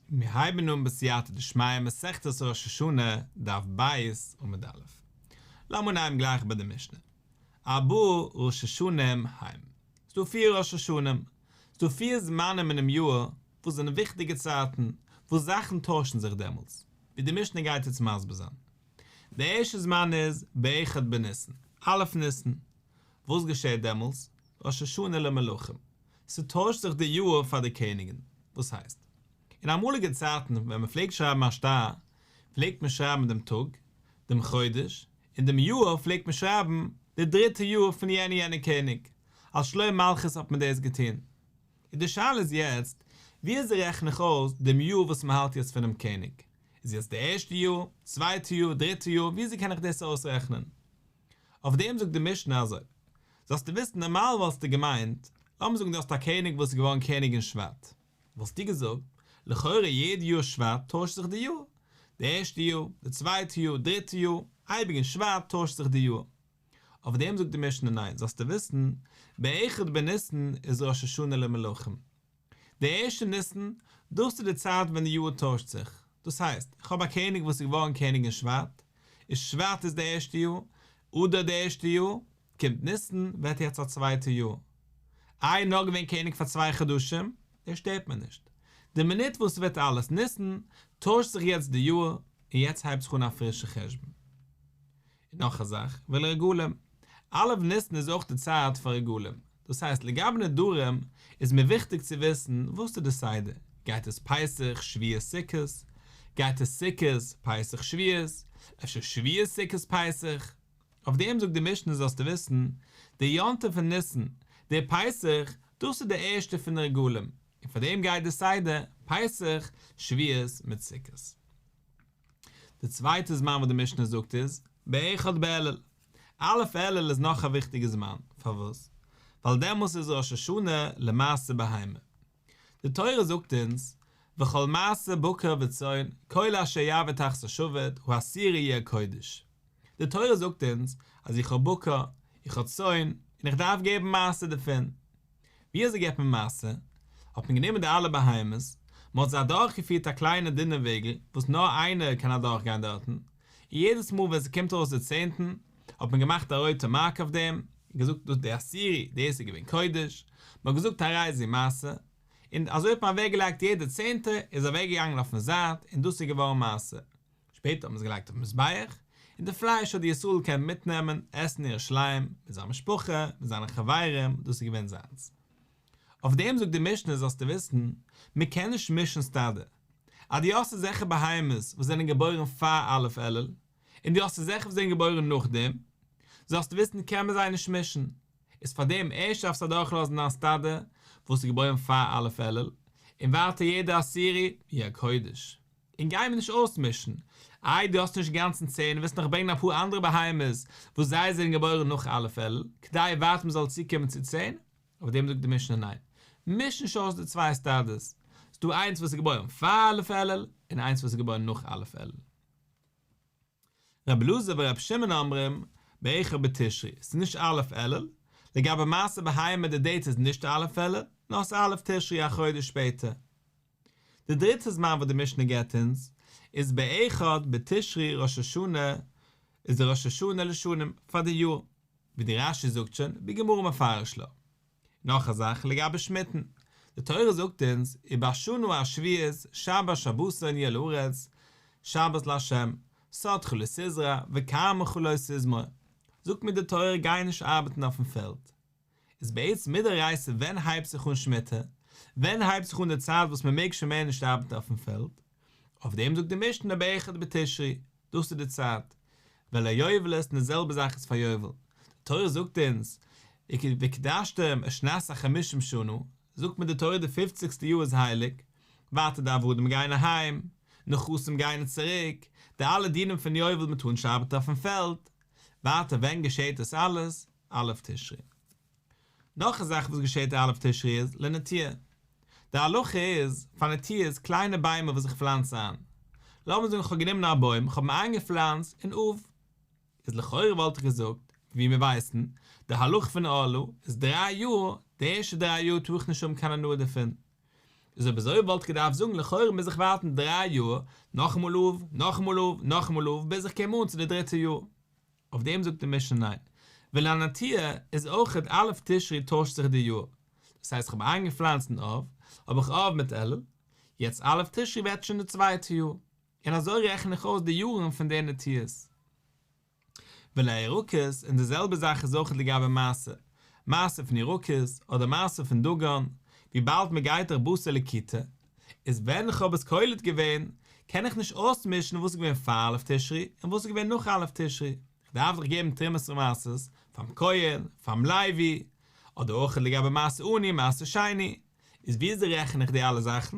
מיר הייבן אן בסייעתא דשמיא מסכת ראש השנה דף ב' עמוד א'. לאמיר אנהייבן גלייך ביי די משנה. ארבעה ראש השנים הם. ס'דא פיר ראש השנים. ס'דא פיר זמנים אינעם יאר וואס זענען וויכטיגע צייטן, וואס זאכן טוישן זיך דעמאלטס, ווי די משנה גייט יעצט מסביר זיין. די ערשטע זמן איז באחד בניסן, א' ניסן. וואס געשעט דעמאלטס? ראש השנה למלכים. ס'טוישט זיך די יאהר פאר די קעניגען. וואס הייסט? אין אמאליגע צייטן ווען מ'פלעגט שרייבן א שטר, פלעגט מען שרייבן דעם טאג, דעם חודש, און דעם יאהר פלעגט מען שרייבן די דריטע יאר פון יענע יענע קעניג, אלס שלום מלכות האט מען דאס געטון. און די שאלה איז יעצט, ווי אזוי רעכן איך אויס דעם יאר וואס מ'האלט יעצט פונעם קעניג? איז יעצט די ערשטע יאר, צווייטע יאר, דריטע יאר, ווי אזוי קען איך דאס אויסרעכנען? אויף דעם זאגט די משנה אזוי, זאלסטו וויסן, נארמאל וואלסטו געמיינט, לאמיר זאגן דו האסט א קעניג וואס איז געווארן קעניג אין שבט, וואלסטו געזאגט, לכאורה יעדע יאר שבט טוישט זיך די יאר, די ערשטע יאר, די צווייטע יאר, דריטע יאר, אייביג אין שבט טוישט זיך די יאר. אויף דעם זאגט די משנה ניין, זאלסטו וויסן, באחד בניסן איז ראש השנה למלכים. די ערשטע ניסן, דאס איז די צייט ווען די יאר טוישט זיך, דאס הייסט, איך האב א קעניג וואס איז געווארן קעניג אין שבט, איז שבט איז די ערשטע יאר, אדר די ערשטע יאר, קומט ניסן, ווערט יעצט א צווייטע יאר. איי נאר געווען קעניג פאר צוויי חדשים, דער שטערט מיר נישט. די מינוט וואס ס'ווערט אלעס ניסן, טוישט זיך יעצט די יאר, און יעצט הייבט זיך אן א פרישע חשבון. און נאך א זאך, ולרגלים, א' ניסן איז אויך די צייט פאר רגלים, דאס הייסט לגבי נדרים איז מיר וויכטיג צו וויסן וואס איז די סדר, גייט עס פסח שבועות סוכות? גייט עס סוכות פסח שבועות? אפשר שבועות סוכות פסח? אויף דעם זאגט די משנה זאלסטו וויסן, די יום טוב פון ניסן, די פסח, דאס איז די ערשטע פון די רגלים, און פאר דעם גייט די סדר, פסח, שבועות מיט סוכות. די צווייטע זמן וואס די משנה זאגט איז באחד באלול, א' אלול איז נאך א וויכטיגע זמן, פארוואס? ווייל דעמאלס איז ראש השנה למעשה בהמה, די תורה זאגט אונז וכל מעשה בקר וצאן כל אשר יעבוד תחת השבט הוא אסיר יהיה קודש, די תורה זאגט אונז אז איך האב בקר, איך האב צאן, און איך דארף געבן מעשר דערפון. ווי אזוי געבט מען מעשר? האט מען גענומען די אלע בהמות, מען האט זיי אדורכגעפירט א קליינע דינע וועגל וואס נאר איינער קען אדורכגיין דארטן, און יעדעס מאל ווען ס'קומט ארויס די צענטן, האט מען געמאכט א רויטע מארק אויף דעם, און געזאגט דאס די עשירי, דאס איז געווען קודש, מען האט געזאגט הרי זו מעשר, און אזוי האט מען אוועקגעלייגט יעדע צענטער איז אוועקגעגאנגען אויפן זייט און דאס איז געווארן מעשר. שפעטער האט מען עס געלייגט אויפן מזבח, און די פלייש האט די ישראל קענען מיטנעמען עסן אין ירושלים, מיט זיין משפחה, מיט זיינע חברים, דאס איז געווען זיינס. אויף דעם זאגט די משנה זאלסטו וויסן, מען קען נישט מישן סטאדע. אז דו האסט אזעלכע בהמות וואס זענען געבוירן פאר א' אלול, און דו האסט אזעלכע וואס זענען געבוירן נאכדעם, זאלסטו וויסן קען מען זיי נישט מישן. איז פאר דעם ערשט דארפסטו אדורכלאזן דיין סטאדע וואס איז געבוירן פאר א' אלול, און ווייטער יעדע עשירי יהיה קודש. און גיי מיר נישט אויסמישן. איי דו האסט נישט גאנצן צען און ווילסט נאך ברענגען אפאר אנדערע בהמות וואס זיי זענען געבוירן נאך א' אלול, כדי ווייטער מען זאל צוקומען צו צען? אויף דעם זאגט די משנה ניין, מיש נישט אויס די צוויי עסטאדעס, ס'דא איינס וואס איז געבוירן פאר א' אלול און איינס וואס איז געבוירן נאך א' אלול. רבי אלעזר ורבי שמעון אומרים, באיכר בתשרי, ס'איז נישט א' אלול, לגבי מעשה בהמה די דעיט איז נישט א' אלול, נאר ס'א' תשרי א חודש שפעטער. די דריטע זמן וואס די משנה געבט אונז, איז באחד בתשרי ראש השנה, איז די ראש השנה לשנים, פאר די יאר, ווי די רש י זאגט שוין, ווי גמרא מפרש לו. נאך א זאך לגבי שמיטן. די תורה זאגט אונז, ובשנה השביעית שבת שבתון יהיה לארץ, שבת לה', סוד כולו סזרא, וקרמא כולו סזמור. זאגט מיר די תורה גיי נישט ארבעטן אויפן פעלד. איז בעצם מדאורייתא ווען הייבט זיך אן שמיטה? ווען הייבט זיך אן די צייט וואס מען מעג שוין מער נישט ארבעטן אויפן פעלד? אויף דעם זאגט די משנה באחד בתשרי, דאס איז די צייט, ועל היובלות און די זעלבע זאך איז פאר יובל, די תורה זאגט אונז, וקדשתם את שנת החמישים שנה, זאגט מיר די תורה די פופציגסטע יאר איז הייליג, ווייטער די עבדים גייען אהיים, נחשים גייען צוריק, די אלע דינים פון יובל, מען טאר נישט ארבעטן אויפן פעלד, ווייטער ווען געשעהט דאס אלעס? א' תשרי. נאך א זאך וואס געשעהט א' תשרי איז לנטיעה. די הלכה איז, פאר נטיעה איז קליינע ביימער וואס איך פלאנץ איין. לאמיר זאגן כ'האב גענומען א בוים, כ'האב אים איינגעפלאנצט אין אוב. איז לכאורה וואלט איך געזאגט, ווי מיר ווייסן, די הלכה פון אלו איז דריי יאר, די ערשטע דריי יאר טאר איך נישט האבן קיין הנאה דערפון. איז אויב אזוי וואלט איך געדארפט זאגן לכאורה מוז איך ווארטן דריי יאר, נאכאמאל אוב, נאכאמאל אוב, נאכאמאל אוב, ביז איך קום אן צו די דריטע יאר. אויף דעם זאגט די משנה ניין, ולענתיה איז אויך אד א' תשרי טוישט זיך די יאר, דאס הייסט כ'האב איינגעפלאנצט אין אב, האב איך אב מיט אלול, יעצט א' תשרי ווערט שוין די צווייטע יאר, און אזוי רעכן איך אויס די יארן פון די נטיעות. ולירקות, און די זעלבע זאך איז אויך לגבי מעשר, מעשר פון ירקות, אדער מעשר פון דגן, וויבאלד מ'גייט דאך בשר לכיתה, איז ווען איך האב עס קולט געווען, קען איך נישט אויסמישן וואס איז געווען פאר א' תשרי און וואס איז געווען נאך א' תשרי, איך דארף דאך געבן תרומת ומעשרות פאר'ן כהן, פאר'ן לוי, אדער אויך לגבי מעשה עני, מעשה שני, איז וויאזוי רעכן איך די אלע זאכן?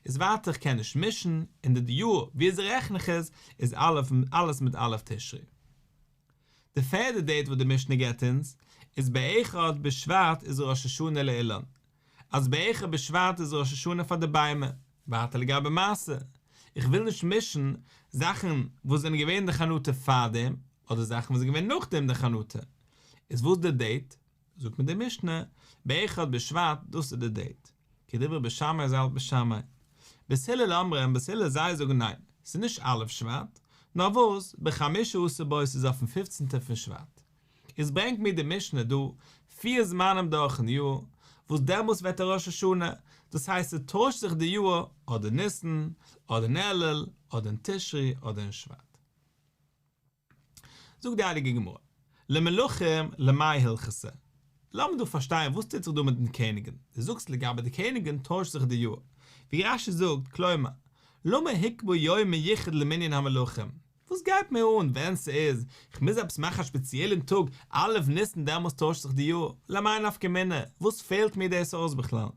איז ווייטער איך קען נישט מישן, און די די יאר וויאזוי רעכן איך עס, איז אלעס מיט א' תשרי. די פערדע דעיט וואס די משנה געבט אונז, איז בעכ א בשבט איז ראש השנה לאילן, אז בערך א בשבט איז ראש השנה פאר די ביימער, ווייטער לגבי מעשה, איך וויל נישט מישן זאכן וואס זענען געווען אין די חנוטע פאר דעם, אדער זאכן וואס איז געווען נאך דעם די חנוטע, איז וואס די דעיט, זאגט מיר די משנה, בערך א בשבט דאס איז די דעיט, כדברי בית שמאי ז ל בית שמאי, בית הלל אמר און בית הלל זיי זאגן ניין, ס'איז נישט א' שבט, נאר וואס, בחמישה עשר בו איז אויפן פופצנטער פון שבט. איז ברענגט מיר די משנה דא פיר זמנים דורכן יאר, וואס דעמאלס ווערט א ראש השנה, דאס הייסט ס'טוישט זיך די יאר, אדער ניסן, אדער אין אלול, אדער אין תשרי, אדער אין שבט. זאגט די הייליגע גמרא, למלכים למאי הלכסה, לאמיר דא פארשטיין וואס טוט זיך דא מיטן קעניגן, דו זאגסט לגבי די קעניגן טוישט זיך די יאר, ווי רשי זאגט, כלומר, למה היקבעו יום מיוחד למנין המלכים, וואס גייט מיר אן ווען ס'איז, כ'מוז עפעס מאכן א שפעציעלען טאג א' ניסן דעמאלס טוישט זיך די יאר, למאי נפקא מינה, וואס פעלט מיר דאס אויס בכלל?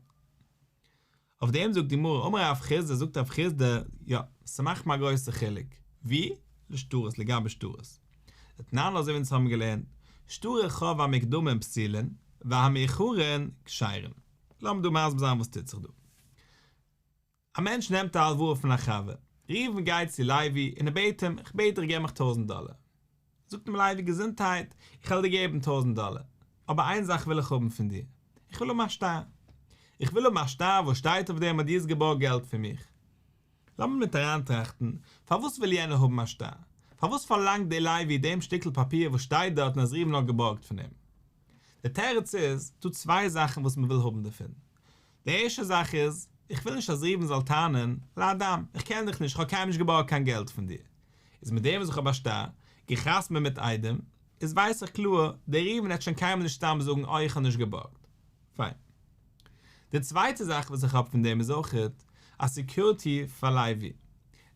אויף דעם זאגט די גמרא אמר רב חיסדא זאגט רב חיסדא, יא, ס'מאכט מיר א גרויסע חילוק, ווי? לשטרות, לגבי שטרות. דתנן אזוי ווי אונז האבן געלערנט, שטרי ח והמקדמים פסילין, והמאוחרין כשרין. לאמיר דא מסביר זיין וואס טוט זיך דא. א מענטש נעמט א הלוואה פון א חבר, ראובן גייט צו לייבי און ער בעט אים, איך בעט דיך געב מיך טויזנט דאלער. זאגט אים לייבי, געזונטהייט, איך וועל דיר געבן טויזנט דאלער, אבער איין זאך וויל איך האבן פון דיר, איך וויל האבן א שטר, איך וויל האבן א שטר וואס שטייט אויף דעם אז דו האסט געבארגט געלט פון מיך. לאמיר מיט אריינטראכטן, פארוואס וויל יענער האבן א שטר? פארוואס פארלאנגט דער לייבי דעם שטיקל פאפיר וואס שטייט דארטן אז ראובן האט געבארגט פון אים? דער תירוץ איז, דא צוויי זאכן וואס מען וויל האבן דערפון. די ערשטע זאך איז, איך וויל נישט אז ראובן זאל טענה'ן, לאדם, איך קען דיך נישט, איך האב קיינמאל נישט געבארגט קיין געלט פון דיר. איז מיט דעם וואס איך האב א שטר, גע'חתמ'עט מיט איידעם, איז ווייס איך קלאר, דער ראובן וועט שוין קיינמאל נישט סתם זאגן אוי איך האב נישט געבארגט. פיין. די צווייטע זאך וואס איך האב פון דעם איז אויך א סעקיוריטי פאר לייבי.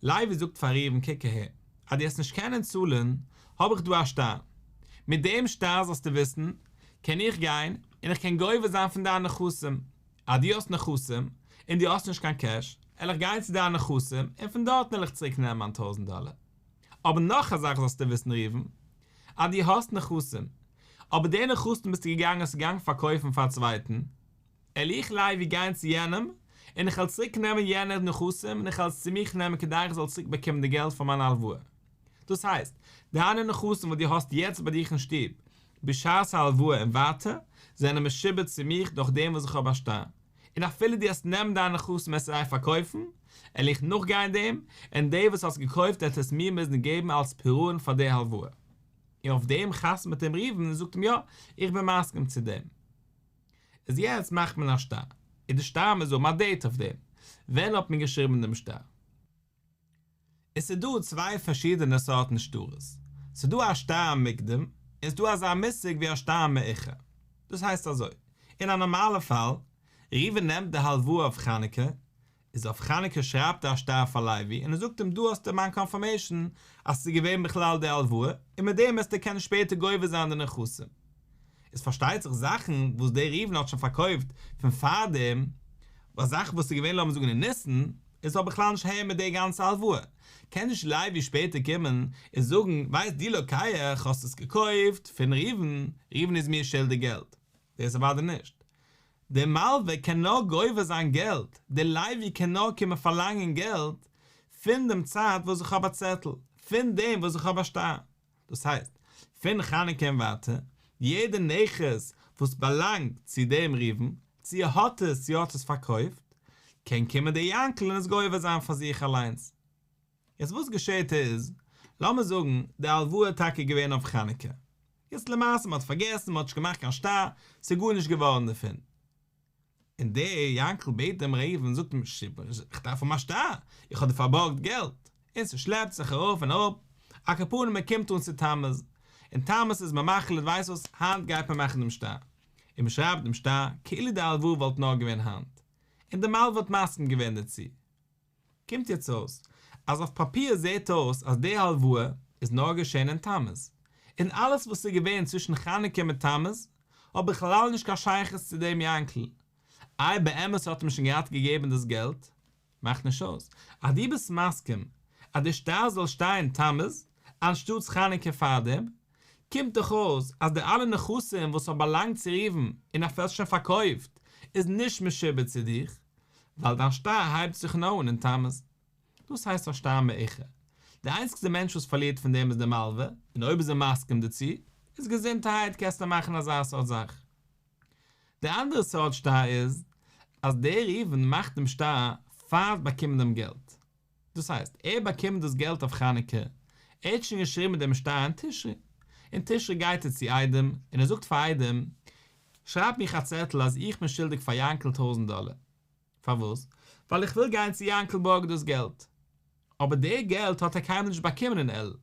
לייבי זאגט פאר ראובן קוק אהער, אז דו העסט נישט קענען צאלען, האב איך דא א שטר, מיט דעם שטר זאלסטו וויסען קען איך גיין און איך קען גובה זיין פון דיין נכסים, אז דו האסט נכסים און דו האסט נישט קיין קעש, על איך גיין צו דיין נכסים און פון דארטען על איך צוריק נעמען מיין טויזענט דאלער, אבער נאך א זאך זאלסטו וויסען ראובן, אז דו האסט נכסים, אבער די נכסים ביסטו געגאנגען האסט געגאנגען פארקויפען פאר א צווייטען, על איך לייב ווי גיין צו יענעם און איך וועל צוריק נעמען יענער נכסים און איך וועל עס צו מיך נעמען כדי איך זאל צוריק באקומען די געלט פאר מיין הלוואה. דאס הייסט, דיינע נכסים וואס דו האסט יעצט ביי דיך אין שטוב בשעת ההלוואה און ווייטער, זענען משועבד צו מיך דורך דעם וואס איך האב א שטר. און אפילו דו וועסט נעמען דיינע נכסים וועסטו זיי פארקויפן, על איך נאכגיין דעם, און דער וואס האט עס געקויפט וועט עס מיר מוזן געבן אלס פירעון פאר די הלוואה. און אויף דעם חתמ'ט אים ראובן און זאגט אים יא, איך בין מסכים צו דעם. איז יעצט מאכט מען א שטר, איז די שטר מוז האבן א דעיט אויף דעם, ווען האט מען געשריבן דעם שטר? עס איז דא צוויי פארשידענע סארטן שטרות, ס'איז דא א שטר מוקדם, און ס'איז דא אזא מושג ווי א שטר מאוחר. דאס הייסט אזוי, אין א נארמאלע פאל, ראובן נעמט די הלוואה אויף חנוכה, איז אויף חנוכה שרייבט ער א שטר פאר לייבי און ער זאגט אים דא האסטו מיין קאנפירמעישאן אז ס'איז געווען בכלל די הלוואה און מיט דעם העסטו קענען שפעטער גובה זיין די נכסים. איז פארשטייט זיך זאכן וואס דער ראובן האט שוין פארקויפט פון פארדעם, ווייל זאכן וואס איז געווען לאמיר זאגן אין ניסן, און ס'האט בכלל נישט אהער מיט די גאנצע הלוואה, קען נישט לייבי שפעטער קומען און זאגן ווייסט די לוקח האסט עס געקויפט פון ראובן, ראובן איז מיר שולדיג געלט. דאס איז אוודאי נישט. דער מלווה קען נאר גובה זיין געלט, דער לווי קען נאר קומען פארלאנגען געלט, פון דעם צייט וואס איך האב א צעטל, פון דעם וואס איך האב א שטר. דאס הייסט, פון חנוכה און ווייטער, יעדע נכס וואס באלאנגט צו דעם ראובן, צו ער האט עס צו ער האט עס פארקויפט, קען קומען דער יענקל און עס גובה זיין פאר זיך אליינס. יעצט וואס געשעהט איז, לאמיר זאגן די הלוואה איז טאקע געווען אויף חנוכה, יעצט למעשה מען האט פארגעסן, מען האט נישט געמאכט קיין שטר, ס'איז גארנישט געווארן דערפון, און דער יענקל בעט דעם ראובן, זאגט אים, איך דארף האבן א שטר, איך האב דיר פארבארגט געלט, און ס'שלעפט זיך ארויף און אראפ, א קאפאן און מען קומט אן צו תמוז, און תמוז איז מען מחליט ווייסט וואס, היינט גייט מען מאכן דעם שטר, און מען שרייבט דעם שטר, כאילו די הלוואה וואלט נאר געווען היינט, און די מלווה האט מסכים געווען דערצו, קומט יעצט אויס אז אויף פאפיר זעהט אויס אז די הלוואה איז נאר געשען אין תמוז, און אלעס וואס איז געווען צווישן חנוכה מיט תמוז האט בכלל נישט קיין שייכות צו דעם יענקל, איי באמת האט מען שוין געהאט געגעבן דאס געלט? מאכט נישט אויס אז דו ביסט מסכים אז די שטר זאל שטיין תמוז אנשטאטס חנוכה פארדעם, קומט דאך אויס אז די אלע נכסים וואס האט באלאנגט צו ראובן און אפי' האסט שוין פארקויפט איז נישט משועבד צו דיך, ווייל דיין שטר הייבט זיך און אן אין תמוז. דאס הייסט א שטר מעוכה. די איינציגסטע מענטש וואס פארלירט פון דעם איז די מלווה, און אויב איז ער מסכים דערצו, איז געזונטהייט קענסטו מאכן אזא סארט זאך. די אנדערע סארט שטר איז אז דער ראובן מאכט דעם שטר פאר'ן באקומען דעם געלט. דאס הייסט, ער באקומט דאס געלט אויף חנוכה, ער האט שוין געשריבן דעם שטר אין תשרי, אין תשרי גייט ער צו איידעם און ער זאגט פאר איידעם, שרייב מיך א צעטל אז איך בין שולדיג פאר יענקל טויזנט דאלער, פארוואס? ווייל איך וויל גיין צו יענקל בארגן דאס געלט. אבער די געלט האט ער קיינמאל נישט באקומען אין אלול,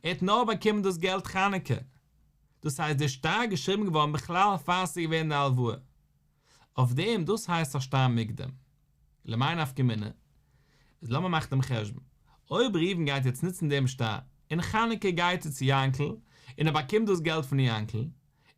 ער האט נאר באקומען דאס געלט חנוכה. דאס הייסט, די שטר איז געשריבן געווארן בכלל פאר ס'איז געווען די הלוואה. אויף דעם דאס הייסט א שטר מוקדם. למאי נפקא מינה? איז לאמיר מאכן דעם חשבון. אויב ראובן גייט יעצט נוצן דעם שטר, און חנוכה גייט ער צו יענקל, און ער באקומט דאס געלט פון יענקל,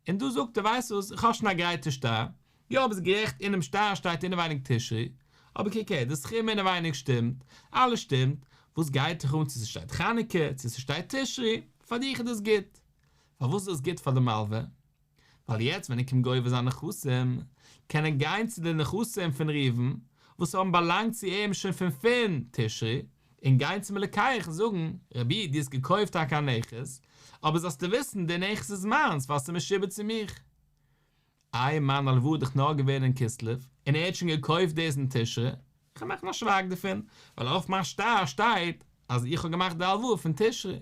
און דא זאגט ער, ווייסט וואס, איך האב שוין א גרייטע שטר, יא ביסט גערעכט אינעם שטר שטייט אינעווייניג תשרי, אבער קוק הער, די סכום אינעווייניג שטימט, אלעס שטימט, וואס גייט דיך אן צו ס'שטייט חנוכה, צו ס'שטייט תשרי, פאר דיך איז דאס גוט. פארוואס איז דאס גוט פאר די מלוה? ווייל יעצט ווען ער קומט גובה זיין נכסים, קען ער גיין צו די נכסים פון ראובן, וואס האבן באלאנגט צו אים שוין פון פון תשרי, און גיין צום לוקח און זאגן, רבי, דו האסט געקויפט טאקע א נכס, אבער זאלסטו וויסן, דער נכס איז מיינס, ווייל ס'איז משועבד צו מיך. איי, מיין הלוואה איז דאך נאר געווען אין כסלו, און ער האט שוין געקויפט דאס אין תשרי. כ'האב געמאכט א שווייג דערפון, ווייל אויף מיין שטר שטייט אז איך האב געמאכט די הלוואה פון תשרי.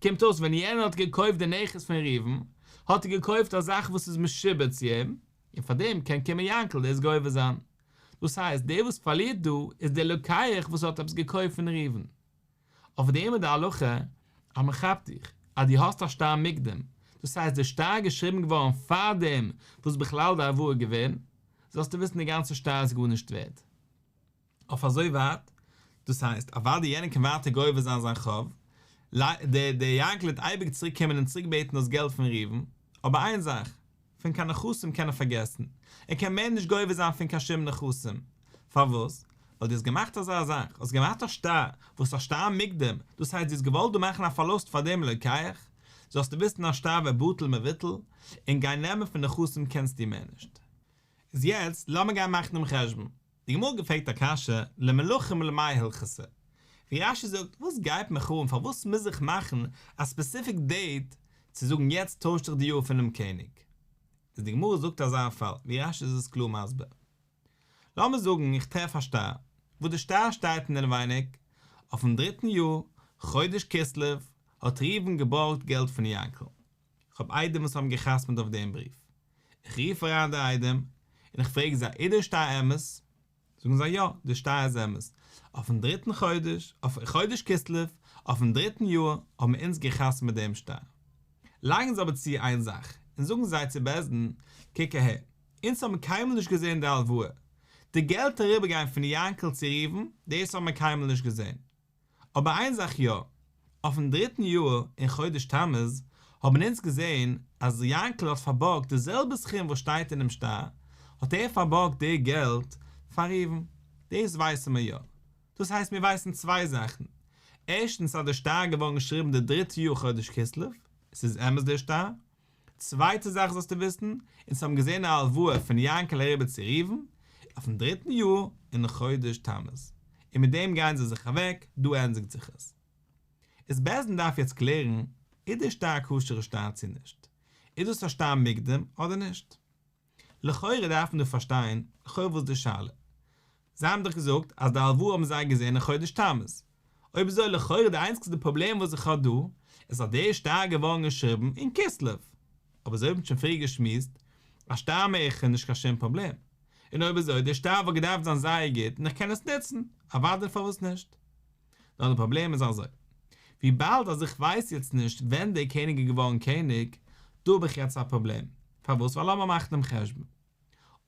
קומט אויס ווען יענער האט געקויפט די נכס פון ראובן, האט ער געקויפט א זאך וואס איז משועבד צו אים, און פאר דעם קען קומען יענקל דאס גובה זיין. דאס הייסט, דער וואס פארלירט דא, איז דער לוקח וואס האט עפעס געקויפט פון ראובן. אבער די עמוד ההלכה אז מען כאפט דיך אז דו האסט א שטר מוקדם, דאס הייסט די שטר איז געשריבן געווארן פארדעם וואס בכלל די עבור איז געווען, זאלסטו וויסן די גאנצע שטר איז גארנישט ווערד. אויף אזוי ווייט. דאס הייסט, אוודאי יענער קען ווייטער גובה זיין זיין חוב, ל ע דער יענקל וועט אייביג צוריק קומען און צוריק בעטן דאס געלט פון ראובן, אבער איין זאך, פון קיין נכסים קען ער פארגעסן, ער קען מער נישט גובה זיין פון קיין שום נכסים, פארוואס? ווייל דו האסט געמאכט אזא זאך, האסט געמאכט א שטר, וואס א שטר מוקדם, דאס הייסט דו האסט געוואלט דא מאכן א פארלוסט פאר דעם לוקח, זאלסטו וויסן א שטר ווערט בטל מבוטל, און גיין נעמען פון נכסים קענסטו מער נישט. איז יעצט לאמיר גיין מאכן דעם חשבון. די גמרא געפרעגט א קשיא, למלכים למאי הלכסא? ווי רש י זאגט, וואס גייט מיך אן פארוואס מוז איך מאכן א ספעסיפיק דעיט צו זאגן יעצט טויש דיך די יאר פונעם קעניג? איז די גמרא זאגט אזא פאל, ווי רש י איז עס קלאר מסביר. לאמיר זאגן איך טרעף א שטר, וואס די שטר שטייט אינעווייניג, אויפן דריטן יאר, חודש כסלו, האט ראובן געבארגט געלט פון יענקל, איך האב איידעם וואס האבן געחתמעט אויף דעם בריוו. איך רוף אריין די איידעם און איך פרעג זיי איז דער שטר אמת? זאגן זיי יא, דער שטר איז אמת. אויפן דריטן חודש, אויף חודש כסלו, אויפן דריטן יאר, האבן אונז געחתמעט דעם שטר. לייגן זיי אבער צו איין זאך, און זאגן זיי צו בעש ט, קוק אהער, אונז האבן קיינמאל נישט געזען די הלוואה. די געלט אריבערגיין פון יענקל צו ראובן, דאס האבן מיר קיינמאל נישט געזען. אבער איין זאך יא, אויפן דריטן יאר אין חודש תמוז האבן אונז געזען אז יאנקל האט פארבארגט די זעלבע סכום וואס שטייט אינעם שטר, האט ער פארבארגט די געלט פאר ראובן, דאס ווייסן מיר יא, דאס הייסט מיר ווייסן צוויי זאכן, ערשטנס אז די שטר איז געווארן געשריבן די דריטע יאר חודש כסלו, עס איז אמת די שטר. צווייטע זאך זאלסטו וויסן, אונז האבן געזען א הלוואה פון יענקעלע רבי צו ראובן אויפן דריטן יאר אין חודש תמוז, און מיט דעם גייען זיי זיך אוועק, דא ענדיגט זיך עס. איז בעז ד דארף יעצט קלערן איז די שטר א כשר'ע שטר צו נישט, איז דאס א שטר מוקדם אדער נישט. לכאורה דארף מען דא פארשטיין לכאו' וואס די שאלה. זיי האבן דאך געזאגט אז די הלוואה האבן זיי געזען אין חודש תמוז. אויב אזוי לכאו' די איינציגסטע פראבלעם וואס איך האב דא איז אז די שטר איז געווארן געשריבן אין כסלו. אבער אזוי האבן שוין פריער געשמועסט אז שטר מערכה איז נישט קיין שום פראבלעם. און אויב אזוי די שטר וואלט געדארפט זיין זייער גוט און איך קען עס נוצן. אוודאי פארוואס נישט. נאר די פראבלעם איז אזוי, וויבאלד אז איך ווייס יעצט נישט ווען דער קעניג איז געווארן קעניג, דא האב איך יעצט א פראבלעם, פארוואס? ווייל לאמיר מאכן דעם חשבון,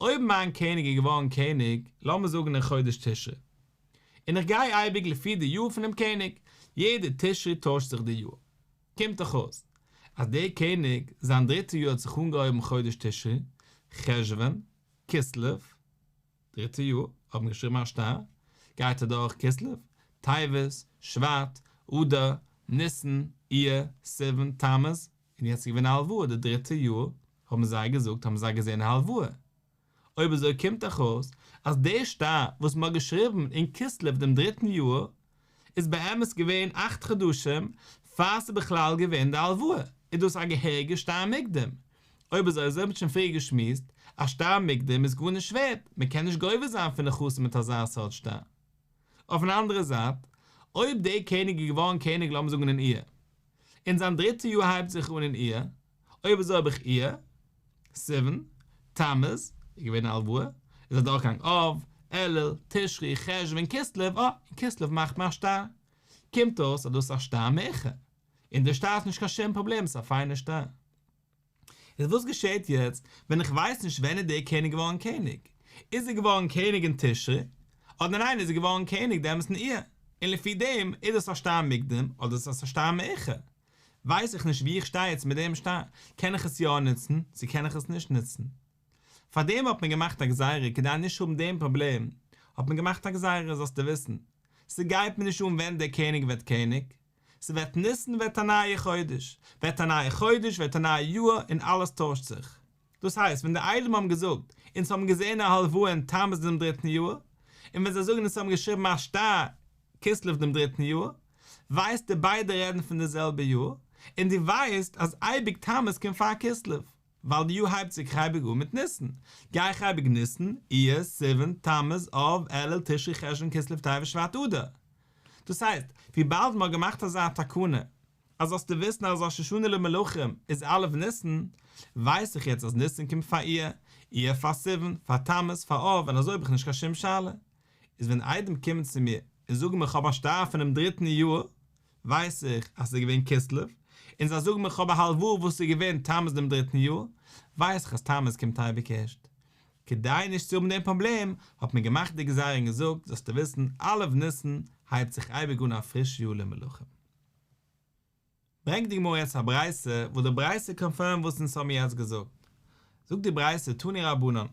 אויב מיין קעניג איז געווארן קעניג, לאמיר זאגן אין חודש תשרי, און איך גיי אייביג לפי די יאר פונעם קעניג, יעדע תשרי טוישט זיך די יאר, קומט דאך אויס אז דער קעניג זיין דריטע יאר האט זיך אנגעהויבן חודש תשרי, חשוון, כסלו, דריטע יאר האט מען געשריבן א שטר, גייט אדורך כסלו, טבת, שבט, אדר, ניסן, אייר, סיוון, תמוז, און יעצט איז געווען א הלוואה די דריטע יאר, האבן זיי געזאגט האבן זיי געזען א הלוואה. אויב אזוי קומט דאך אויס אז די שטר וואס מען האט געשריבן אין כסלו דעם דריטן יאר איז באמת געווען אכט חדשים פאר ס'איז בכלל געווען די הלוואה, איז דאס א געהעריגע שטר מקדם? אויב אזוי אזוי האב איך שוין פריער געשמועסט, א שטר מקדם איז גארנישט ווערט, מען קען נישט גובה זיין פון נכסים מיט אזא סארט שטר. אויפן אנדערע זייט, אויב דער קעניג איז געווארן קעניג לאמיר זאגן אין אייר. און זיין דריטע יאר הייבט זיך אן אין אייר, אויב אזוי האב איך אייר, סיוון, תמוז, איז געווען א הלוואה, איז אדורכגעגאנגען אב, אלול, תשרי, חשוון, כסלו, אה, און כסלו מאכט מען א שטר. קומט אויס אז דאס איז א שטר מעכער, און די שטר איז נישט קיין שום פראבלעם, עס איז א פיינע שטר. איז וואס געשעהט יעצט ווען איך ווייס נישט ווען איז דער קעניג געווארן קעניג? איז ער געווארן קעניג אין תשרי? אדער ניין איז ער געווארן קעניג דעמאלטס אין אייר? און לפי דעם איז דאס א שטר מוקדם אדער איז דאס א שטר מאוחר? ווייס איך נישט ווי איך שטיי יעצט מיט דעם שטר, קען איך עס יא נוצן צו קען איך עס נישט נוצן? פאר דעם האט מען געמאכט א גזירה כדי נישט האבן דעם פראבלעם האט מען געמאכט א גזירה זאלסטו וויסן ס'גייט מיר נישט אן ווען דער קעניג ווערט קעניג ס'ווערט ניסן ווערט א נייע חודש, ווערט א נייע חודש ווערט א נייע יאר און אלעס טוישט זיך. דאס הייסט ווען די איידים האבן געזאגט אונז האבן געזען א הלוואה אין תמוז דעם דריטן יאר, און ווען זיי זאגן אונז האבן געשריבן א שטר כסלו דעם דריטן יאר, ווייסטו ביידע רעדן פון די זעלבע יאר, און דו ווייסט אז אייביג תמוז קומט פאר כסלו. ווייל די יאר הייבט זיך אייביג אן מיט ניסן, גיי איך אייביג ניסן, אייר, סיוון, תמוז, אב, אלול, תשרי, חשוון, כסלו, טבת, שבט, אדר. דאס הייסט, וויבאלד מ'האט געמאכט אזא תקנה, אז זאלסטו וויסן אז ראש השנה למלכים איז א' ניסן, ווייס איך יעצט אז ניסן קומט פאר אייר, אייר פאר סיוון, פאר תמוז, פאר אב, און אזוי האב איך נישט קיין שום שאלה. איז ווען איידעם קומען צו מיר און זאגן מיר כ'האב א שטייער פונעם דריטן יאר, ווייס איך אז ס'איז געווען כסלו, און זיי זאגן מיר כ'האב א הלוואה וואס איז געווען תמוז דעם דריטן יאר, ווייס איך אז תמוז קומט אייביג ערשט. כדי נישט צו האבן דעם פראבלעם, האט מען געמאכט די גזירה און געזאגט זאלסטו וויסן א' ניסן הייבט זיך אייביג אן א פריש יאר למלכים. ברענגט די גמרא יעצט א ברייתא וואס די ברייתא קאנפירמט וואס אונז האבן יעצט געזאגט. זאגט די ברייתא תני רבנן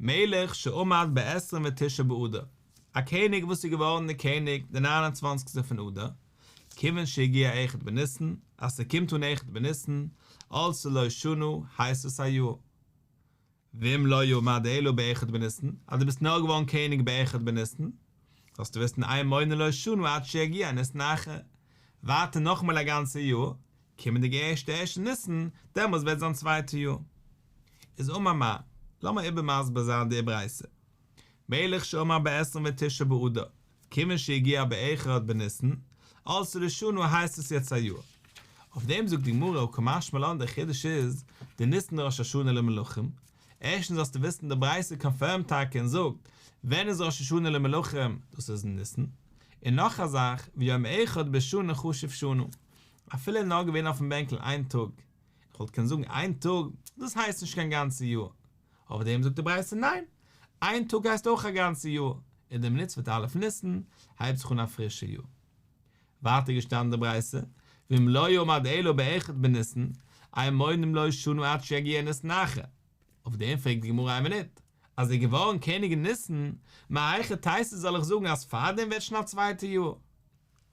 מלך שעמד בעשרים ותשעה באדר, א קעניג וואס איז געווארן די קעניג די נײַן און צוואַנציק טע פון אדר, כיוון שהגיע אחד בניסן, אז ס'קומט אן אחד בניסן, אלץ ללא שנה, הייסט עס א יאר. ואם לא יעמד אלא באחד בניסן, אז דו ביסט נאר געווארן קעניג באחד בניסן, זאלסטו וויסן איין מונה לא שנה עד שיגיע ניסן אחר, ווייטער נאכאמאל א גאנצע יאר, קומענדיגע ערשטע ערשי ניסן, דעמאלס וועט זיין צווייטע יאר. איז אמר מר. לאמיר איבער מסביר זיין די ברייתא. מלך שאמר בעשרין ותשעה באדר, כיוון שהגיע בעכרד בניסן, אלס ראשונה הייסט עס יעצט א יאר. אויף דעם זאגט די גמרא או כמשמע לן דער חידוש איז, די ניסן ראש השנה למלכים, ערשטנס זאלסטו וויסן די ברייתא קאנפירמט טאקע און זאגט, ווען איז ראש השנה למלכים, דאס איז אין ניסן. און נאך א זאך, ויום אחד בשנה חשוב שנה, אפילו נאר געווען אויפן בענקל איין טאג, איך וואלט קענען זאגן איין טאג, דאס הייסט נישט קיין גאנצע יאר, אויף דעם זאגט די ברייתא ניין, איין טאג הייסט אויך א גאנצע יאר, און די מצוות א' ניסן הייבט זיך אן א פרישע יאר. ווייטער געשטאנען די ברייתא, ואם לא יעמוד אלא באחד בניסן, אין מונים לו שנה עד שיגיע ניסן אחר, אויף דעם פרעגט די גמרא איין מינוט, אז ער איז געווארן קעניג אין ניסן, מהיכי תיתי זאל איך זאגן אז פארדעם ווערט שוין א צווייטע יאר?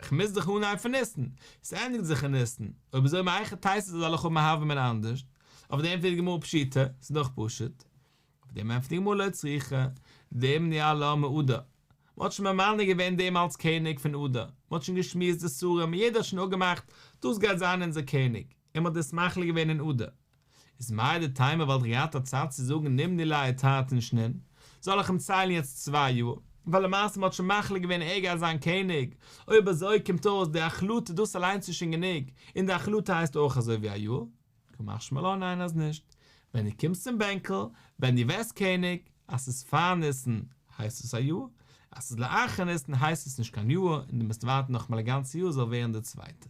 כ'מוז דיך אנהייבן פון ניסן. ס'ענדיגט זיך אין ניסן. אויב איז אויב מהיכא תיתי זאל אלך האבן א הווא אמינא אנדערש? אויף דעם ענטפערט די גמרא פשיטא, ס'איז דאך פשוט. אויף דעם ענטפערט די גמרא לא צריכה, דעם נהיה לה מעודה. מ'האט שוין ממנה געווען דעם אלס קעניג פון עדה. מ'האט שוין געשמועסט די שרים און יעדער האט שוין אפגעמאכט, דאס גייט זיין אונזער קעניג. און מען האט דאס מחליט געווען אין אדר, איז מאי די תימא וואלט איך געהאט א צייט צו זאגן נמני ליה את ה' אין שנין, זאל איך אים ציילן יעצט צוויי יאר, ווייל למעשה מען האט שוין מחליט געווען ער גייט זיין קעניג, אויב אזוי קומט אויס די החלטה דאס אליינס איז שוין גענוג, און די החלטה הייסט אויך אזוי ווי א יאר? כמאך שמאלא ניין אז נישט, ווען דו קומסט צום בענקל, ווען דו ווערסט קעניג, אז ס'איז פאר ניסן הייסט עס א יאר, אז ס'איז לאחר ניסן הייסט עס נישט קיין יאר, און דו מוזט ווארטן נאכאמאל א גאנצע יאר זאל ווערן די צווייטע.